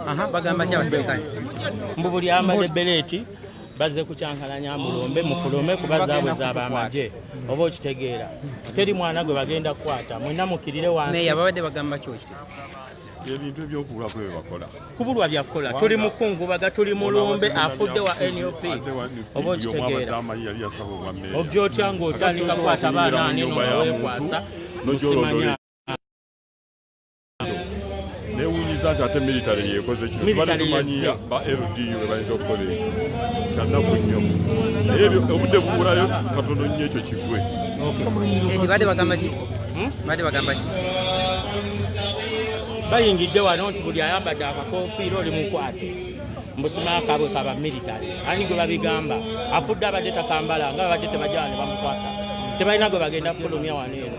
Aha, bagamba ki abaserikale mbu buli amade beleeti bazze kukyankalanya mulombe mufulume kuba zaabwe zaaba amagye oba okitegeera teri mwana gwe bagenda kukwata mwena mukirire wansi babadde bagamba kyoki ebintu ebyokubulako byebakola kubulwa byakukola tuli mukungubaga tuli mulombe afudde wa nup oba okitegeera ogya otya ngaotandika kwata baana anino nawekwasa musimanya newunyiza nti ate military yekoze kino tubadde tumanyiya ba ldu webayinza okukola ekyo kyannaku nnyo naye obudde bubulayo katono nnyo ekyo kigwe badde bagamba ki hmm? badde bagamba ki bayingidde wano nti buli ayambadde akakofiira oli mukwate mbusimaa kabwe kaba military ani gwe babigamba afudde abadde takambala nga babadde tebajala ne bamukwasa tebalina gwe bagenda kufulumya wano eno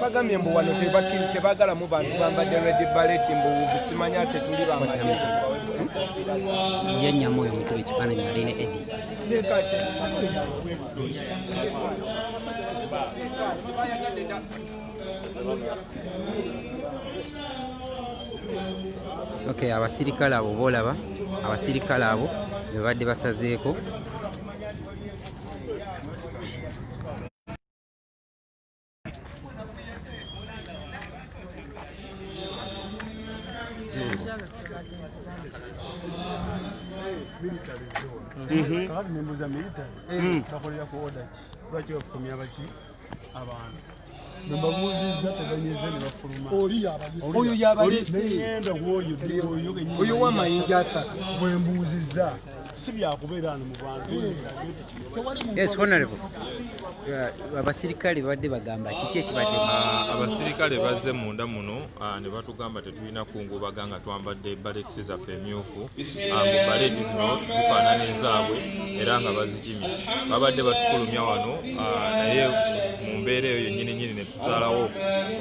bagambye mbu wano tebakiri tebagalamu bantu bambadde red baleti mbu bisimanya ate tuli bamyenyamu oyo mukuba ekifaananyi ali ne edi ok abasirikale abo boolaba abasirikale abo bebadde basazeeko Mhm. kakati nembuza military mm. bakolera ku oda ki lwaki bafukumya baki abantu nebabuuzizza tebanyeze nebafuluma oyo yabaleseyenda kwoyo oyo oyo wamayinja asatu bwembuuzizza si byakubeera ano mu bantu mm. Yes, honorable. Abasirikale badde bagamba kiki ekibadde? Ah, abasirikale bazze munda muno ah, ne batugamba tetulina kungubaga nga twambadde baleti zaffe emyufu ah, mu baleti zino zifaanana ezaabwe era nga bazikimye. Babadde batufulumya wano naye mu mbeera eyo yennyini nyini tusalawo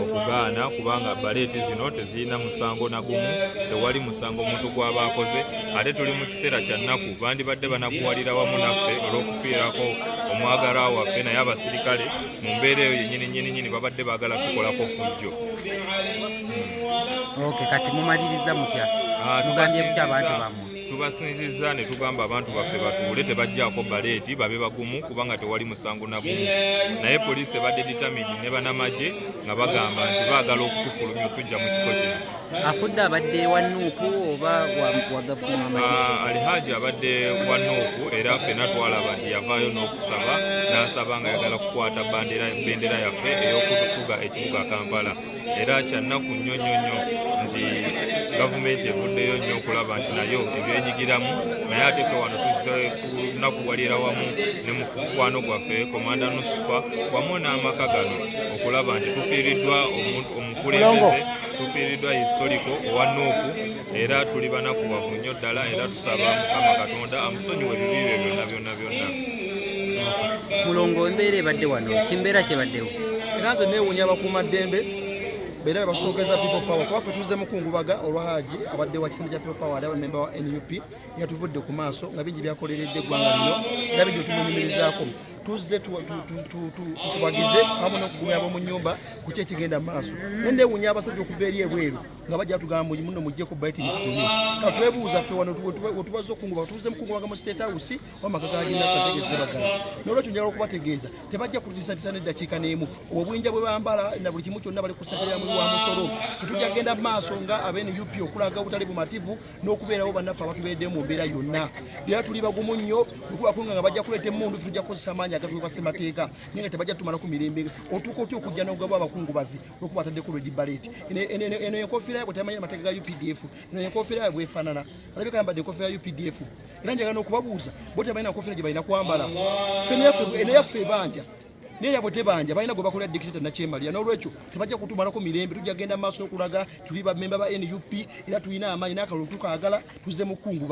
okugaana kubanga baleeti zino tezirina musango nagumu tewali musango omuntu gwaba akoze ate tuli mu kiseera kya nnaku bandibadde banakuwalira wamu naffe olw'okufiirako omwagala waffe naye abasirikale mu mbeera eyo yenyini nyini nyini babadde baagala tukolako fujjo hmm. kati mumaliriza mutya ah, mugambye bukya abantu bamwe tubasinzizza ne tugamba abantu baffe batuule tebajjaako baleeti babe bagumu kubanga tewali musango nagumu naye poliisi ebadde ditamidi ne banamagye nga bagamba nti baagala okutufulumya okujja mu kifo kino afudde abadde wanuuku oba wagavumama ah, alihaaji abadde wanuuku era fena twalaba nti yavaayo n'okusaba n'asaba nga yagala kukwata bendera yaffe ey'okutuga ekibuga kampala era kyannaku nnyo nnyo nnyo nti gavumenti evuddeyo nnyo okulaba nti nayo ebyenyigiramu naye ate fe wano tuzze kunakuwalira wamu ne mukwano gwaffe komanda nusufa wamu n'amaka gano okulaba nti tufiiriddwa omukulembeze tufiiriddwa historiko owa nuupu era tuli banakuwavu nnyo ddala era tusaba mukama katonda amusonyiwe ebibi bye byonna byonna byonna mulongo embeera ebadde wano kimbeera kyebaddewo era nze neewunya bakuuma ddembe beera bebasookeza people power kuba ffe tuzze mukungubaga olwa haji abadde wa kisinde kya people power ali abamemba wa nup yatuvudde ku maaso nga bingi byakoleredde eggwanga lino era bingi tumunyumirizaako tuzze tukubagize amu nokugumya bomu nyumba kuki ekigenda maaso nendewunya abasajja okuva eri ebweru nga bajja tugamba nti muno mujjeko bayiti bifune ka twebuuza ffe wano wetubazza okunguba tubuze mukungubaga mu state house wamaka gaginasatageze bagala nolwekyo njagala okubategeeza tebajja kutisatisa neddakiika n'emu obwinja bwe bambala na buli kimu kyonna bali ku ssente yamuli wa musolo tetujja kugenda mu maaso nga abene up okulaga obutali bumativu n'okubeerawo bannaffe abatubeeredde mu mbeera yonna era tuli bagumu nnyo okubakunga nga bajja kuleeta emundu ffe tujja kukozesa amaanyi agatuli kwa ssemateeka naye nga tebajja tumalako mirembe otuuka otya okujja n'ogabwa abakungubazi nokuba ataddeko redi balet eno enkofiira yabwe tamanya amateeka ga updf eno enkofiira yabwe efaanana alabika yambadde enkofiira ya updf era njagala nokubabuuza bo tebalina nkofiira gye balina kwambala eno yaffe ebanja naye yabwe tebanja balina gwe bakolera dikiteta nakyemalira n'olwekyo tebajja kutumalako mirembe tujja genda maaso okulaga tuli bamemba ba nup era tulina amaanyi n'akalulu tukaagala tuzze mukunguba